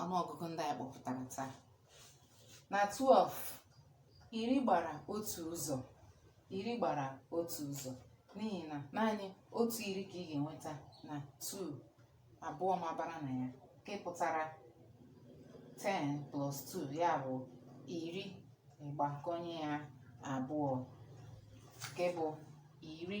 ọnụọgụgụ ndị anyị kpọpụtara taa na 12 iri gbara otu ụzọ iri gbara otu ụzọ n'ihi na naanị otu iri ka ị ga-enweta na 2 abụọ mabara na ya nke pụtara 10 plus 2 ya bụ iri ịgbakọnye ya abụọ nke bụ iri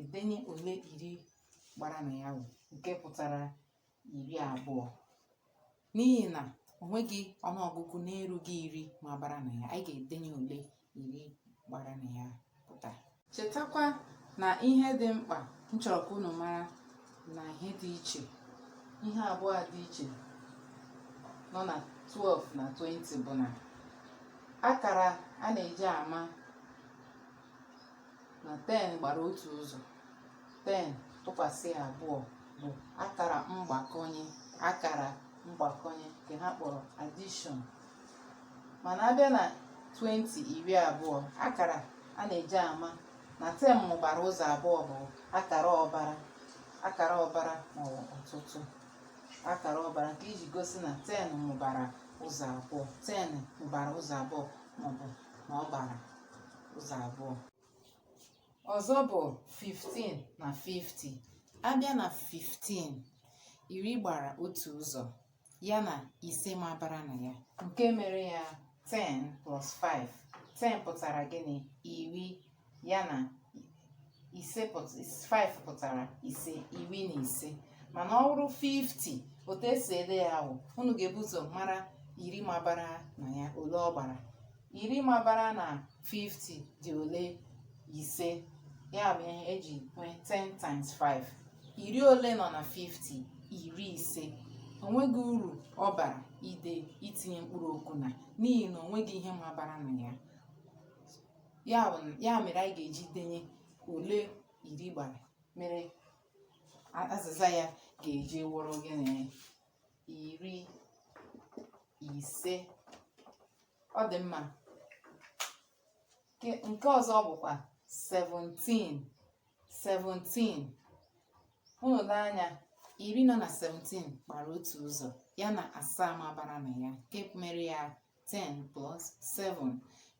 edenye ole iri gbara na ya wụ nke pụtara iri abụọ n'ihi na o nweghị ọnụọgụgụ na-erughị iri mabara na ya anyị ga-edenye ole iri gbara na ya pụta chetakwa na ihe dị mkpa m chọrọ ka unu mara na ihe dị iche ihe abụọ dị iche nọ na 12 na 20 bụ na akara a na-eji ama na 10 gbara otu ụzọ 10 tụkwasị abụọ bụ akara mgbakọnye akara mgbakọnye nke ha kpọrọ addition mana abịa na 20 iri abụọ akara a na-eji ama na ten mụbara ụzọ abụọ bụ akara ụbara akara ụbara maọbụ ọtụtụ akara ụbara nke iji gosi na ten mụbara ụzọ abụọ ten mụbara ụzọ abụọ maọbụ na ọ gbara ụzọ abụọ ọzọ bụ 15 na 50 abịa na 15 iri gbara otu ụzọ ya na ise mabara na ya nke mere ya 10 plus 5 10 pụtara gịnị iri ya na 5 pụtara ise iri na ise mana ọ bụrụ 50 otu esi ede ya bụ unu ga-ebu ụzọ mara iri mabara na ya ole ọ gbara iri mabara na 50 dị ole ise ya bụ ihe eji nwee 10 times 5 iri ole nọ na 50 iri ise onweghị uru ọ bara itinye mkpụrụ okwu na n'ihi na onweghị ihe mabara na ya ya mere anyị ga-eji denye ole iri gbara mere azịza ya ga-eji wụrụ gịnị iri ise ọ dị mma nke ọzọ bụkwa 17 17 unu lee anya iri nọ na 17 gbara otu ụzọ ya na asaa mabara na ya nke mere ya 10 plus 7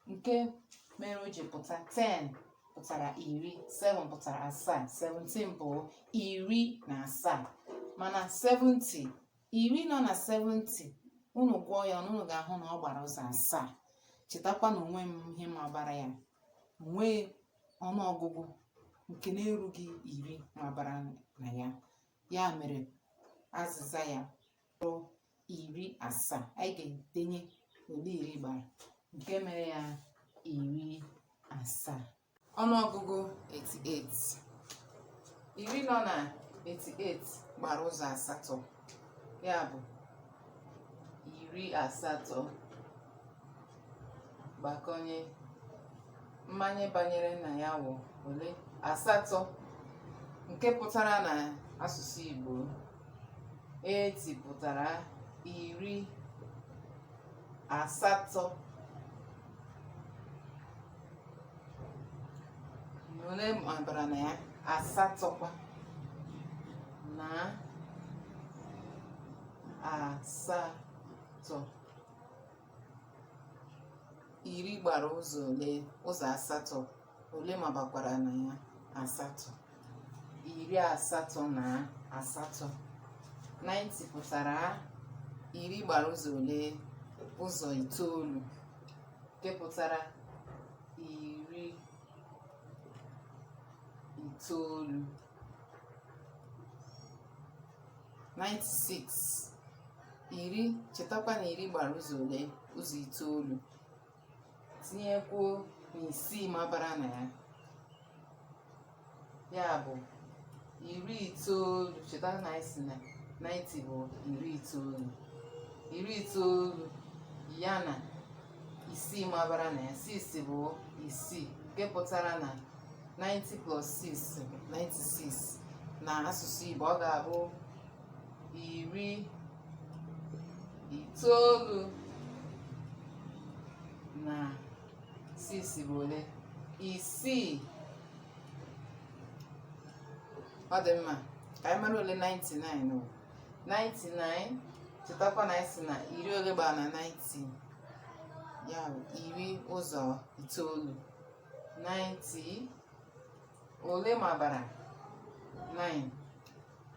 nke mere o ji pụta 10 pụtara iri 7 pụtara asaa 17 bụ iri na asaa mana 70 iri nọ na 70 unu gụọ ya unu ga-ahụ na ọ gbara ụzọ asaa chetakwa na onweghị ihe mabara ya onweghị ọnụọgụgụ nke na-erughị iri mabara na ya ya mere azịza ya kpọrọ iri asaa anyị ga-edenye ole iri gbara nke mere ya iri asaa ọnụọgụgụ 88 iri nọ na 88 gbara ụzọ asatọ ya bụ iri asatọ gbakọnye mmanye banyere na ya wụ ole asatọ nke pụtara na asụsụ Igbo 80 pụtara iri asatọ ole mabara na ya asatọkwa na asatọ iri gbara ụzọ ole ụzọ asatọ ole mabakwara na ya asatọ iri asatọ na asatọ 90 pụtara iri gbara ụzọ ole ụzọ itoolu nke pụtara iri itoolu 96 iri chetakwa na iri gbara ụzọ ole ụzọ itoolu tinyekwuo na isii mabara na ya ya bụ iri itoolu cheta na anyị sị na 90 bụ iri itoolu iri itoolu ya na isii mabara na ya 6 bụ isii nke pụtara na 90 plus 6 96 na asụsụ Igbo ọ ga-abụ iri itoolu na six bụ ole isii ọ dị mma ka anyị mara ole 99 bụ 99 chetakwa na anyị sị na iri ole gbara na 90 ya bụ iri ụzọ itoolu 90 ole mabara 9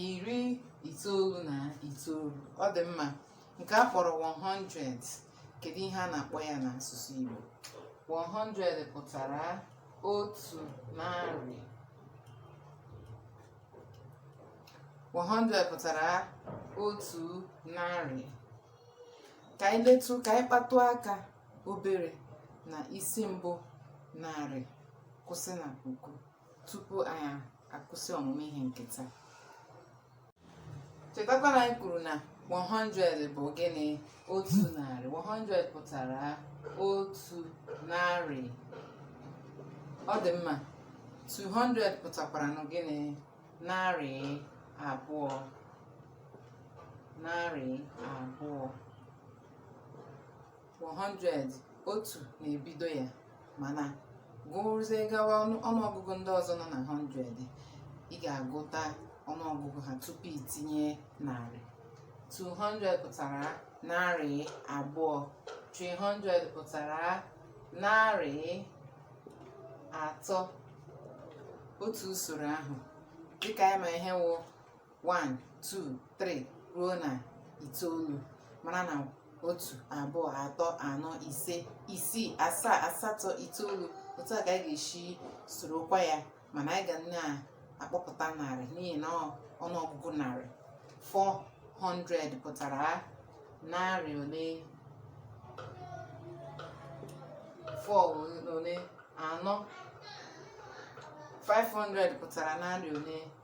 iri itoolu na itoolu ọ dị mma nke a kpọrọ 100 kedu ihe a na-akpọ ya n'asụsụ Igbo 100 pụtara otu narị 100 pụtara otu narị ka anyị letụ ka anyị kpatụ aka obere na isi mbụ narị kwụsị na puku tupu anyị akwụsị ọmụmụ ihe nke taa chetakwa na anyị kwuru na 100 bụ gịnị otu narị 100 pụtara otu narị ọ dị mma 200 pụtakwara na gịnị narị abụọ narị abụọ 100 otu na-ebido ya mana gụrụzie gawa ọnụ- ọnụọgụgụ ndị ọzọ nọ na 100 ị ga-agụta ọnụọgụgụ ha tupu itinye narị 200 pụtara narị abụọ 300 pụtara narị atọ otu usoro ahụ dịka anyị ma ihe wụ 1 2 3 ruo na itoolu mara na otu abụọ atọ anọ ise isii asaa asatọ itoolu otu a ka anyị ga-esi sorokwa ya mana anyị ga na-akpọpụta narị n'ihi na ọnụọgụgụ narị 400 pụtara narị ole 4 ole anọ 500 pụtara narị ole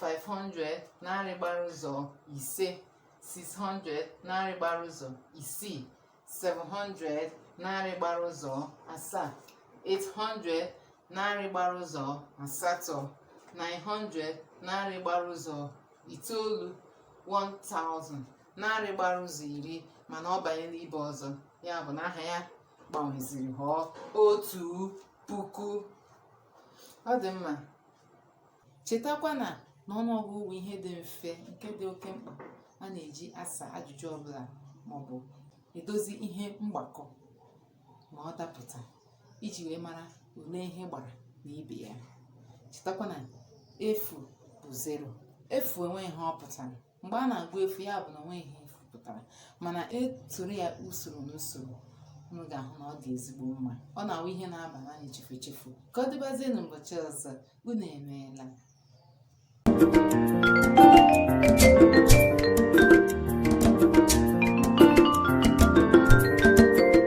500 narị gbara ụzọ ise 600 narị gbara ụzọ isii 700 narị gbara ụzọ asaa 800 narị gbara ụzọ asatọ 900 narị gbara ụzọ itoolu 1000 narị gbara ụzọ iri mana ọ banye n'ibe ọzọ ya bụ na aha ya gbanweziri ghọọ otu puku ọ dị mma Chetakwa na n'ọnụọgụgụ bụ ihe dị mfe nke dị oke mkpa a na-eji asa ajụjụ ọbụla maọbụ edozi ihe mgbakọ ma ọ dapụta iji wee mara ole ihe gbara na ibe ya. Chetakwa na efu bụ zero. Efu enweghị ihe ọ pụtara. mgbe a na-agụ efu ya bụ na onweghị ihe efu pụtara mana esoro ya usoro n'usoro unu ga-ahụ na ọ dị ezigbo mma ọ na-awụ ihe na-aba n'anya chefu echefu ka ọ dịbazie n'ụbọchị ọzọ unu emeela